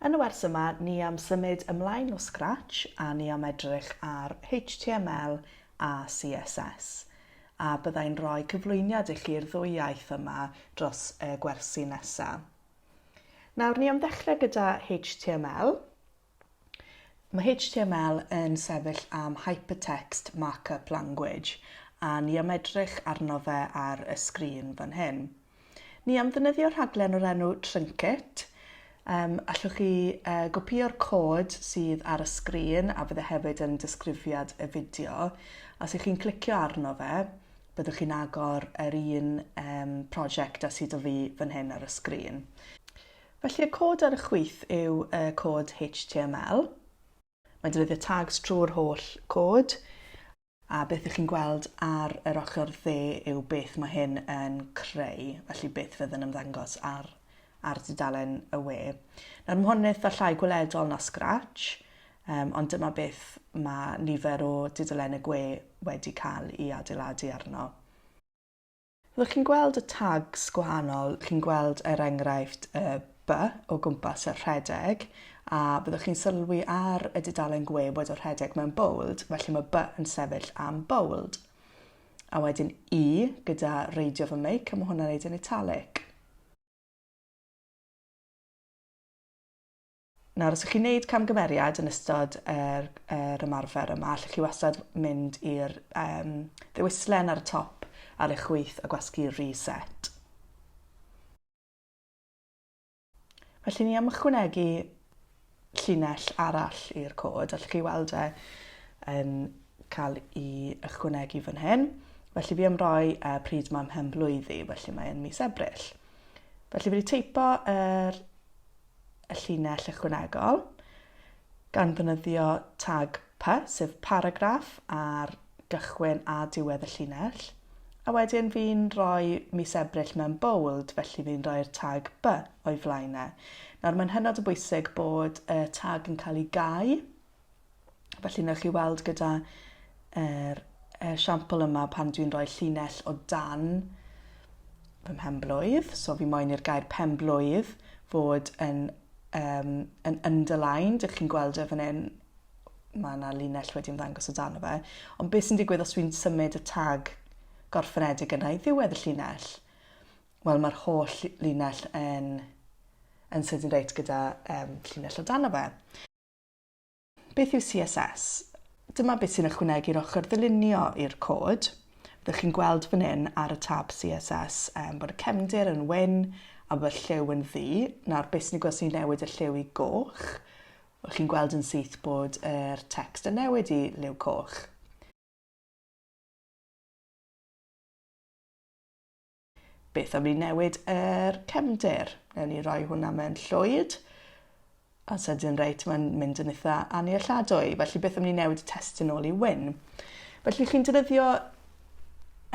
Yn y wers yma, ni am symud ymlaen o scratch a ni am edrych ar HTML a CSS. A byddai'n rhoi cyflwyniad i chi'r ddwy iaith yma dros y gwersi nesaf. Nawr, ni am ddechrau gyda HTML. Mae HTML yn sefyll am Hypertext Markup Language, a ni am edrych arno fe ar y sgrin fan hyn. Ni am ddefnyddio rhaglen o'r enw Trinket. Um, allwch chi uh, gopio'r cod sydd ar y sgrin a fydde hefyd yn disgrifiad y fideo. Os ych chi'n clicio arno fe, byddwch chi'n agor yr un um, prosiect a sydd o fi fan hyn ar y sgrin. Felly y cod ar y chwith yw y cod HTML. Mae'n defnyddio tags trwy'r holl cod, a beth ych chi'n gweld ar yr ochr dde yw beth mae hyn yn creu, felly beth fydd yn ymddangos ar, ar dudalen y we. Nawr mae hwn yn eitha llai gweledol na Scratch, um, ond dyma beth mae nifer o dudalen y gwe wedi cael ei adeiladu arno. Fyddwch chi'n gweld y tags gwahanol, chi'n gweld er enghraifft y by o gwmpas y rhedeg a byddwch chi'n sylwi ar y dudalen gwe bod y rhedeg mewn bold, felly mae by yn sefyll am bold. A wedyn i gyda reidio fy meic a mae hwnna'n neud yn italic. Nawr, os ych chi'n gwneud camgymeriad yn ystod yr, yr ymarfer yma, allwch chi wastad mynd i'r um, ddewislen ar y top ar eich chwyth a gwasgu Reset. Felly ni am ychwanegu llinell arall i'r cod, allwch chi weld e yn cael ei ychwanegu fan hyn. Felly fi am roi uh, pryd mae'n mhen blwyddi, felly mae'n mis Ebrill. Felly fi wedi teipo yr y llinell ychwanegol, gan ddefnyddio tag pa, sef paragraff ar gychwyn a diwedd y llinell, a wedyn fi'n rhoi mis Ebrill mewn bold, felly fi'n rhoi'r tag by o'i flaen e. Nawr mae'n hynod o bwysig bod y tag yn cael ei gau Felly, newch chi weld gyda yr esiampl yma pan dwi'n rhoi llinell o dan fy mhenblwydd, so fi moyn i'r gair penblwydd fod yn, um, yn underlined, ydych chi'n gweld e fan hyn, mae yna linell wedi ymddangos o dan o fe, ond beth sy'n digwydd os dwi'n symud y tag gorffenedig yna i ddiwedd y llinell? Wel, mae'r holl linell yn, yn sydyn reit gyda um, llinell o dan o fe. Beth yw CSS? Dyma beth sy'n ychwanegu i'r ochr ddylunio i'r cod. Fyddwch chi'n gweld fan hyn ar y tab CSS um, bod y cefndir yn wyn a bod y lliw yn ddu. Nawr, beth sy'n ei gweld sy'n newid y lliw i goch? Fyddwch chi'n gweld yn syth bod yr text yn newid i liw coch. Beth am ni newid yr cefndir? Newn ni roi hwnna mewn llwyd. A sydyn reit, mae'n mynd yn eitha annealladwy. Felly beth am ni newid y testyn ôl i wyn? Felly chi'n defnyddio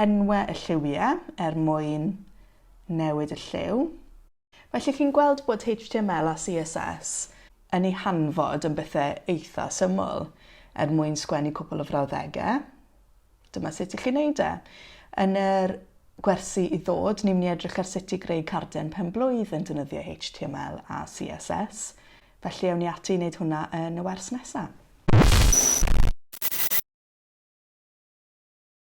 enwau y lliwiau er mwyn newid y lliw. Felly chi'n gweld bod html a CSS yn ei hanfod yn bethe eitha syml. Er mwyn sgwennu cwpl o frawddege, dyma sut i chi wneud e. Yn yr gwersi i ddod, ni'n mynd i edrych ar sut i greu carden pen-blwydd yn defnyddio html a CSS, felly ewn ni ati i wneud hwnna yn y wers nesa.